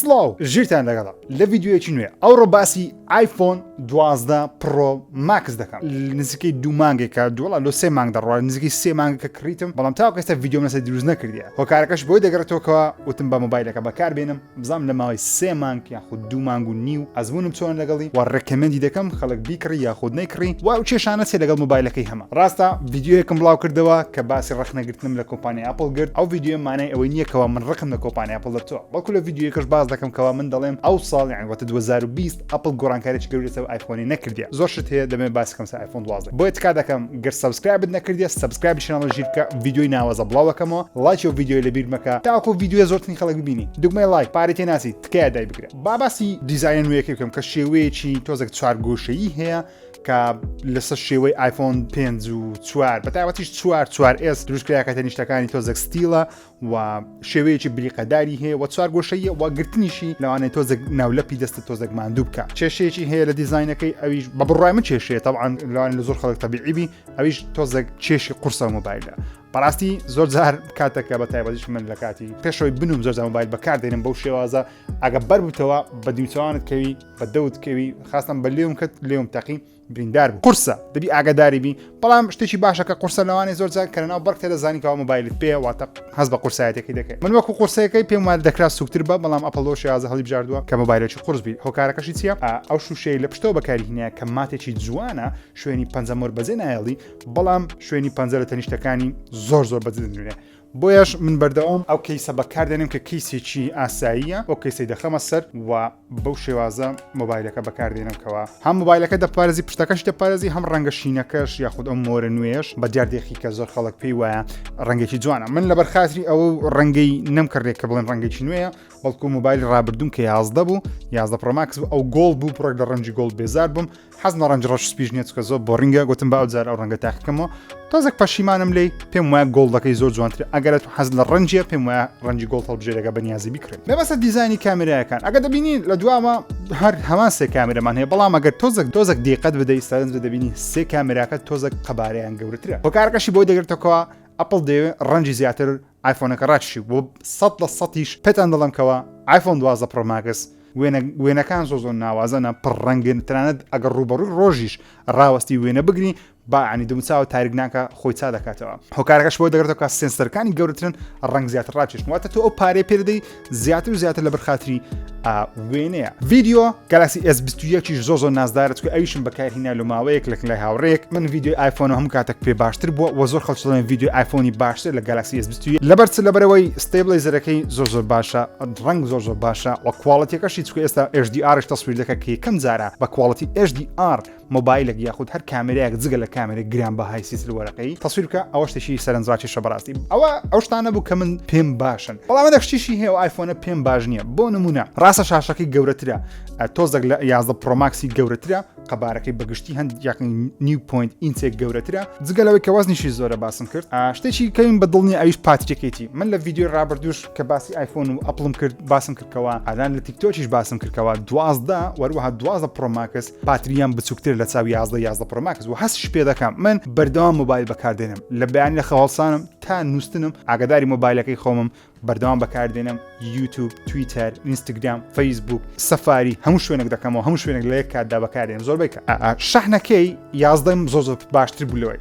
سڵاو ژیرتان لەگەڵ لە ڤیددیوەکی نوێ ئەوڕۆ باسی آیفۆن دوازدە پڕۆ ماکس دەکەم نزیکەی دوو مانگێکە دووڵا لۆ سێ مانگ دەڕوات نزیکی سێ مانگەکە کڕیتم بەڵام تاوکەستە ڤیددیۆم لەسە دروست نەکردە هۆکارەکەش بۆی دەگەڕێتەوەکەوە وتم بە مۆبایلەکە بەکار بێنم بزانم لە ماوەی سێ مانگ یاخود دوو مانگ و نیو ئەزمونم چۆن لەگەڵی و ڕێکەمەندی دەکەم خەڵک بیکڕی یاخود نەیکڕی و ئەو کێشانە چێ لەگەڵ مۆبایلەکەی هەمە ڕاستە ڤیددیوەکەم بڵاو کردەوە کە باسی ڕەخنەگرتنم لە کۆمپانی ئەپل گرت ئەو ڤیددیو مانای ئەوەی نییەکەوە من ڕقم لە کۆمپانی ئەپل دەبتەوە بەڵکو لە ڤیددیوەکەش باز دەکەم کەوا من دەڵێم ئەو ساڵ یان وەتە 2020 ئەپڵ گۆڕانکاریی گەورەی لەسەر ئایفۆنی نەکردیە زۆر شت هەیە دەمێ باس کەم سەر ئایفۆن دوازدە بۆیە تکا دەکەم گەر سەبسکرایبت نەکردیە سەبسکرایبی چەناڵە ژیر بکە ڤیدیۆی ناوازە بڵاوەکەمەوە لایکی و ڤیدیۆی لەبیر مەکە تاکو ڤیدیۆ زۆرترین خەڵک ببینی دوگمەی لایک پارەی تێ ناسی تکایە دای بگرە با باسی دیزاینە نوێیەکەی بکەم کە شێوەیەکی تۆزێک چوار گۆشەیی هەیە کە لەسەر شێوەی ئایفۆن پێنج و چوار بە تایبەتیش چوار چوار ئێس دروستکراکەتە نیشتەکانی تۆزێک ستیلە و شێوەیەکی بریقەداری هەیە و چوارگۆشەیە و گرتنیشی لەوانێ تۆزێک ناولەپی دەستە تۆزێک ماندوو بکە کێشەیەکی هەیە لە دیزینەکەی ئەویش بە بڕای من کێشەیە تاوان لەوان لە زۆر خەڵک تەبیعیبی ئەویش تۆزێک کێشی قورسە مۆبایلە بەڕاستی زۆر جار کاتەکە بە تایبەتیش من لە کاتی پێشەوەی بنوم زۆر مۆبایل بەکار دێنم بەو شێوازە ئەگە بەربتەوە بە دیوچوانت کەوی بە دەوت کەوی خاستم بە لێوم کە لێوم تەقی بریندار بوو قورسە دەبی ئاگاداری بی بەڵام شتێکی باشە کە قورسە لەوانێ زۆر جار کە ناو بەرکتە دەزانی کەەوە مۆبایلت پێ واتە هەز بە قورسایەتەکەی دەکەی من وەکو قورسەکەی پێم وال دەکرا سوکتر بە بەڵام ئەپلۆ شێازە هەڵی بژاردووە کە مۆبایلێکی قورس بیت هۆکارەکەشی چیە ئەو شوشەی لە پشتەوە بەکاری هینە کە ماتێکی جوانە شوێنی پەنجەمۆر بەجێ نایڵی بەڵام شوێنی پەنجە لە تەنیشتەکانی زۆر زۆر بەجدنوێ بۆیەش من بەردەوام ئەو کەیسە بەکاردێنم کە کەیسێکی ئاساییە ئەو کەیسی دەخەمە سەر و بەو شێوازە مۆبایلەکە بەکاردێنم کەەوە هەم مۆبایلەکە دەپارێزی پشتەکەش دەپارێزی هەم ڕەنگە شینەکەش یاخود ئەم مۆرە نوێش بە دیاردێکی کە زۆر خەڵک پێی وایە ڕەنگێکی جوانە من لە بەرخاتری ئەو ڕەنگەی نەمکردێک کە بڵێن ڕەنگێکی نوێە بەڵکو مۆبایل ڕابردون کە یازدە بوو یازدە پرۆماکس ئەو گۆڵ بوو پڕک لە ڕەنجی گۆڵ بێزار بووم حەزم لە ڕەنج ڕەش سپیش نیە چکە زۆر بۆڕینگە گوتم با ئەوجار ئەو ڕەنگە تاقیکەمەوە تۆزێک پەشیمانم لی پێم وایە گۆڵدەکەی زۆر جوانتر ئەگەرە تو حەز لە ڕەنجە پێم وایە ڕەنجی گۆڵ هەڵبژێرەکە بەنیازی بکرێت مەبەستە دیزانی کامێرایەکان ئەگە دەبینی لە دواوە هەر هەمان سێ کامێرەمان هەیە بەڵام ئەگەر تۆزەک تۆزەک دیقەت بدەی سەرنج دەبینی سێ کامێراکە تۆزەک قەبارەیان گەورەترە هۆکارەکەشی بۆی دەگرێتەکەەوە ئەپڵ دەوێت ڕەنجی زیاتر ئایفۆنەکە ڕاکشی بۆ سەد لە سەدیش پێتان دەڵێم کەوا ئایفۆن دوازدە پڕۆ ماکس وێنە وێنەکان زۆر زۆر ناوازەنە پڕ ڕەنگن تەنانەت ئەگەر ڕووبەڕووی ڕۆژیش ڕاوەستی وێنە بگری با عنی دموچاوە تاریک ناکە خۆی چا دەکاتەوە هۆکارەکەش بۆ دەگرێتەوە کە سێنسەرەکانی گەورەترن ڕەنگ زیاتر ڕاکێشن واتە تۆ ئەو پارەی پێدەی زیاتر و زیاتر لەبەر خاتری ئا وێنەیە ڤیددیو گەلاسی ئێس یەکیش زۆ زۆر نازدارە چکە ئەویشم بەکارهینا لە ماوەیەک لەک لای هاوڕێک من ڤیددیو ئایفۆن هەم کاتەک پێ باشتر بووە وە زۆر خەڵچڵێن ڤیددیو ئایفۆنی باشتر لە گەلاسی ئێس لەبەر چ لەبەرەوەی ستەیبڵی زەرەکەی زۆر زۆر باشە ڕنگ زۆر زۆر باشە وە کوواڵەتەکەشی چکە ئێستا ئێشدی ئارش تەسویر دەکە کە یەکەم جارە بە کوواڵەتی ئێشدی ئار مۆبایلێک یاخود هەر کامێرایەک جگە لە کامێرە گرانبەهای سیسل وەرەقەی تەسویر بکە ئەوە شتێکی سەرنجڕاکێشە بەڕاستی ئەوە ئەو شتانە بوو کە من پێم باشن بەڵام ئەدە شتیشی هەیە و ئایفۆنە پێم باش نییە بۆ نمونە ڕاستە شاشەکەی گەورەترە ئە، تۆزەک لە یازدە پرۆماکسی گەورەترە قەبارەکەی بەگشتی هەند یاقین نیو پوینت ئینچێک گەورەترە جگەلەوەی کە وەزنیشی زۆرە باسم کرد ئا، شتێکی کەین بە دڵنی ئەویش پاتیکێتی من لە ویددیو ڕابردوش کە باسی ئایفۆن و ئەپڵم کرد باسم کردکەوە ئالان لە تیکتۆکیش باسم کردکەوە دوازدە وەروەها دوازدە پرۆماکس باترییەم بچووکتر لە چاوی یازدە یازدە پرۆماکس و هەستش پێ دەکەم من بەردەوام موبایل بەکاردێنم لە بەیان لە خەواڵسانم تا نووسنم ئاگداری مۆبایلەکەی خۆمم بەردەوام بەکاردێنم یوتوب تویتەر ئینستاگرام فەیسبوک سەفاری هەموو شوێنێک دەکەمەوە هەموو شوێنێک لە یەک کاتدا بەکارێن زۆربەی شەحنەکەی یازدەم زۆ زۆ باشتر بوو لەوەی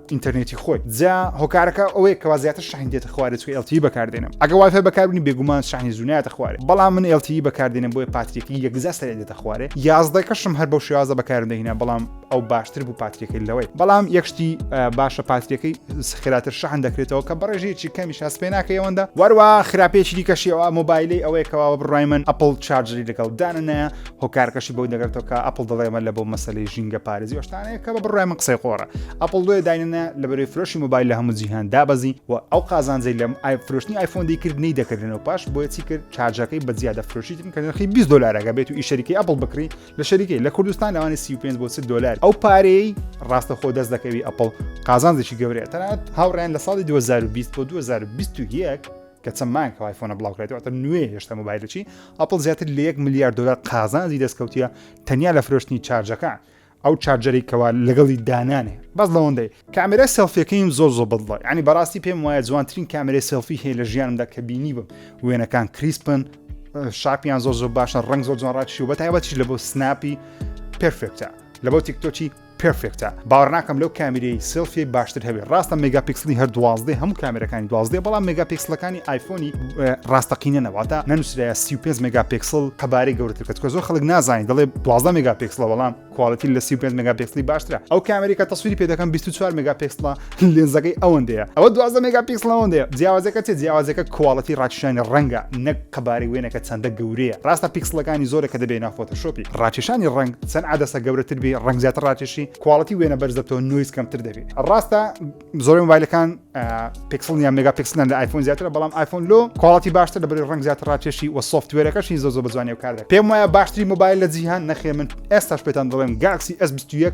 ئینتەرنێتی خۆی جا هۆکارەکە ئەوەیە کەوا زیاتر شحن دێتە خوارێ چکە LTE بەکاردێنم ئەگە وایفای بەکاربنی بێگومان شحنی زوو نایەتە خوارێ بەڵام من LTE بەکاردێنم بۆیە پاتریەکەی یەکجا سەرێ دێتە خوارێ یازدەکەشم هەر بەو شێوازە بەکارم دەهینا بەڵام ئەو باشتر بوو پاتریەکەی لەوەی بەڵام یەکشتی باشە پاتریەکەی سخراتر شحن دەکرێتەوە کە بەڕێژێکی کەمی شاس پێ ناکە ئەوەندە وەروە خراپێکی دیکەشی ئەوە مۆبایلی ئەوەیەکەوە بڕای من ئەپل چارجری لەگەڵ دانە هۆکارەکەشی بەوە دەگرێتەوە کە ئەپڵ دەڵێ ئەمە لە بۆ مەسەلەی ژینگە پارێزی و شتانەیە کە بە بڕای من قسەی قۆڕە ئەپڵ دوێ داینەنە لە بەرەی فرۆشی مۆبایل لە هەموو جیهان دابەزی و ئەو قازانجەی لەم ئای فرۆشتنی ئایفۆن دەیکرد نەی دەکردن و پاش بۆیە چی کرد چارجەکەی بە زیادە فرۆشیتن کە نرخی 20 دلارەکە بێت و ئی شەریکەی ئەپڵ بکری لە شەریکەی لە کوردستان لەوانی 35 بۆ 30 دلار ئەو پارەی ڕاستە خۆ دەست دەکەوی ئەپڵ قازانجێکی گەورەیە تەنانەت هاوڕیان لە ساڵی 2020 بۆ 2021 کە چەند مایکەوە آیفۆنە بڵاوکرێتەوە تە نوێ هێشتا مۆبایلەچی ئەپل زیاتر لە 1 میلیارد دلار قازانزی دەستکەوتە تەنیا لە فرۆشتنی چارجەکە ئەو چارجەری کەوا لەگەڵی دانانێ بەس لەوەندەی کامێرای سەلفیەکەیم زۆر زۆر بڵی ینی بەڕاستی پێم وایە جوانترین کامێرای سەلفی هەیە لە ژیانمدا کە بینی بم وێنەکان کریسپن شاپیان زۆر زۆر باشە ڕنگ زۆر جوان ڕاکشی و بە تایبەتیش لە بۆ سناپی پرفێکتە لە بۆ تیکتۆکی پێرفێکتە باوەڕناکەم لەو کامیرەی سلفی باشتر هەبێت ڕاستە مێگا پیکسلی هەر دوازدە هەموو کامێرەکانی دوازدە بەڵام مێگا پیکسلەکانی ئایفۆنی ڕاستەقینە نەواتە نەنووسراە 35 مێگا پیکسل قەبارەی گەورەتر کە زۆر خەڵک نازانانی دەڵێ دوازدە مێگا پیکسلە بەڵام کوالەتی لە 35 مێگا پیکسلی باشترە ئەو کامێری کە تەسویری پێ دەکەم 24 مێگا پیکسلە لێنزەکەی ئەوەندەیە ئەوە دوازدە مێگا پیکسڵ ئەوەندەیە جیاوازەکە چێ جیاوازەکە کواڵەتی ڕاکشانی ڕەنگە نەک قەبارەی وێنەکە چەندە گەورەیە ڕاستە پیکسڵەکانی زۆرە کە دەبێ ناو فۆتۆشۆپی ڕاکێشانی ڕەنگ چەند عەدەسە گەورەتر بێ ڕەنگ زیاتر ڕاکێشی کواڵەتی وێنە بەرز دەبتەوە نویز کەمتر دەبێ ڕاستە زۆر مۆبایلەکان پیکسڵ یان مێگا پیکسلان لە ئایفۆن زیاترە بەڵام ئایفۆن لۆ کواڵەتی باشتر لە بەری ڕەنگ زیاتر ڕاکێشی و سۆفتوێرەکەشی زۆ زۆ بەجوانی و کاردە پێم وایە باشتری مۆبایل لە جیهان نەخێ من ئێستاش پێتان دەڵێم گاکسی S21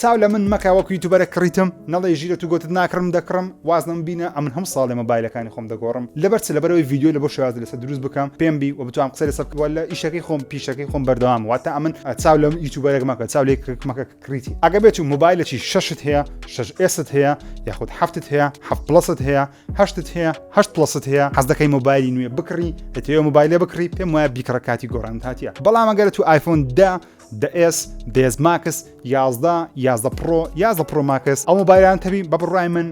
چاو لە من مەکە وەک یوتوبەرە کڕیتم نەڵێی ژیرە تو گۆتت ناکڕم دەکڕم واز لەمە بینە ئەمن هەمو ساڵێ مۆبایلەکانی خۆم دەگۆڕم لەبەر چ لەبەرەوەی ڤیدیۆی لەبۆ شێوازی لەسەر دروست بکەم پێم بی و بتوام قسە لەسەر بکەم واللە ئیشەکەی خۆم پیشەکەی خۆم بەردەوام واتا ئەمن چاو لەم یوتوبەرێک مەکە چاو لێ کرک مەکە کڕیتی ئەگە بێت و مۆبایلەکی شەشت هەیە شەش ئێست هەیە یاخود هەفتت هەیە هەفت پڵەست هەیە هەشتت هەیە هەشت پڵەست هەیە حەز دەکەی مۆبایلی نوێ بکڕی دەتەوێ مۆبایلێ بکڕی پێم وایە بیکڕە کاتی گۆڕانت هاتیە بەڵام ئەگەر تو ئایفۆن دە دە ئێس دێز ماکس یازدە یازدە پڕۆ یازدە پرۆماکس ئەو مۆبایلان تەبی بە بڕای من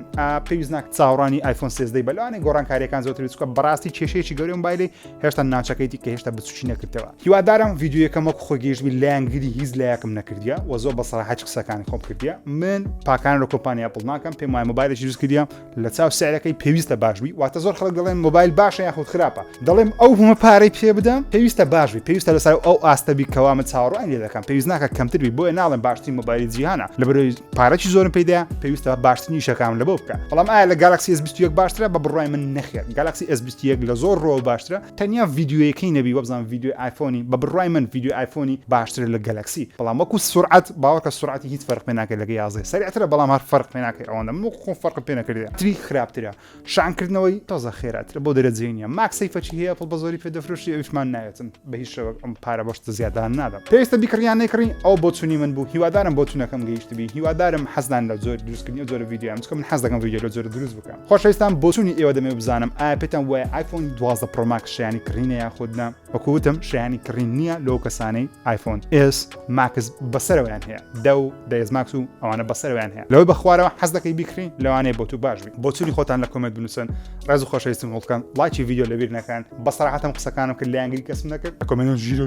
پێویست ناک چاوڕانی ئایفۆن سێزدەی بەلوانێ گۆڕانکاریەکان زۆتر بچکە بەڕاستی کێشەیەکی گەورە مۆبایلی هێشتا ناچەکەیتی کە هێشتا بچوچی نەکردەوە هیوادارم یددیوەکەم وەک خۆ گەیشتبی لایەنگری هیچ لایەکم نەکردە وە زۆر بەسەراحەت قسەکانی خۆم کردە من پاکان لە کۆمپانیا پڵناکەم پێم وای مۆبایلێکی دروست کردە لە چاو سعرەکەی پێویستە باش بی واتە زۆر خەڵک دەڵێن مۆبایل باشە یاخود خراپە دەڵێم ئەو هەمە پارەی پێ بدەم پێویستە باش بی پێویستە لەسەر ئەو ئاستەبی کەوا من چاوەڕوان لێ دەکەم پێویست ناکە کەمتر بی بۆیە ناڵێن باشترین مۆبایلی جیهانە لە بەرەوەی پارەی زۆرم پیدا پێویستە باشترین شەکان لە بۆ بکە بەڵام ئایا لە گالاکسی S21 باشترە بە بڕای من نەخێت گالاکسی S21 لە زۆر ڕۆ باشترە تەنیا ڤیدیۆیەکەی نەبی وابزانم ڤیدیۆی ئایفۆنی بە بڕوای من ڤیدیۆی ئایفۆنی باشترە لە گەلەکسی بەڵام وەکو سورعەت باوەکە سورعەتی هیچ فەرق پێ ناکەی لەگە یازدە سەرعترە بەڵام هەر فەرق پێ ناکەی ئەوەندە من وەکو خۆم فەرقم پێ نەکردێ تری خراپترە شانکردنەوەی تازە خێراترە بۆ دەرەجەی نیە ماک سەیفەچی هەیە ئەپڵ بە زۆری پێ دەفرۆشی ئەویشمان ناوێتم بە هیچ شەوەک ئەم پارە بەشتە زیادان نادەم پێویستە بیکڕی یان نەیکڕی ئەو بۆ چونی من بوو هیوادارم بۆ چونەکەم گەیشتبی هیوادارم حەزدان لە زۆر دروستکردنی ئەو جۆرە ڤیدیۆیان چکە من حەز دەکەم ڤیدیۆ لە جۆرە دروست بکەم خۆشەویستان بۆچوونی ئێوە دەمێ بزانم ئایا پێتان وایە ئایفۆن دوازدە پرۆماک شیانی کڕینە یاخودنا وەکوتم شیانی کڕین نییە لەو کەسانەی ئایفۆن ئێس ماکس بەسەرەوەیان هەیە دە و دەێز ماکس و ئەوانە بەسەرەوەیان هەیە لەوەی بەخوارەوە حەز دەکەی بیکڕین لەوانەیە بۆ تو باش بی بۆچوونی خۆتان لە کۆمێت بنووسن ڕێز و خۆشەویستم هەڵکەن لایکی ڤیددیو لەبیر نەکەن بەسەراحەتم قسەکانم کرد لایەنگری کەسم نەکرد کۆمێنت ژیرە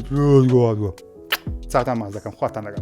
چاتان ماز دەکەم خواتان لەگەڵ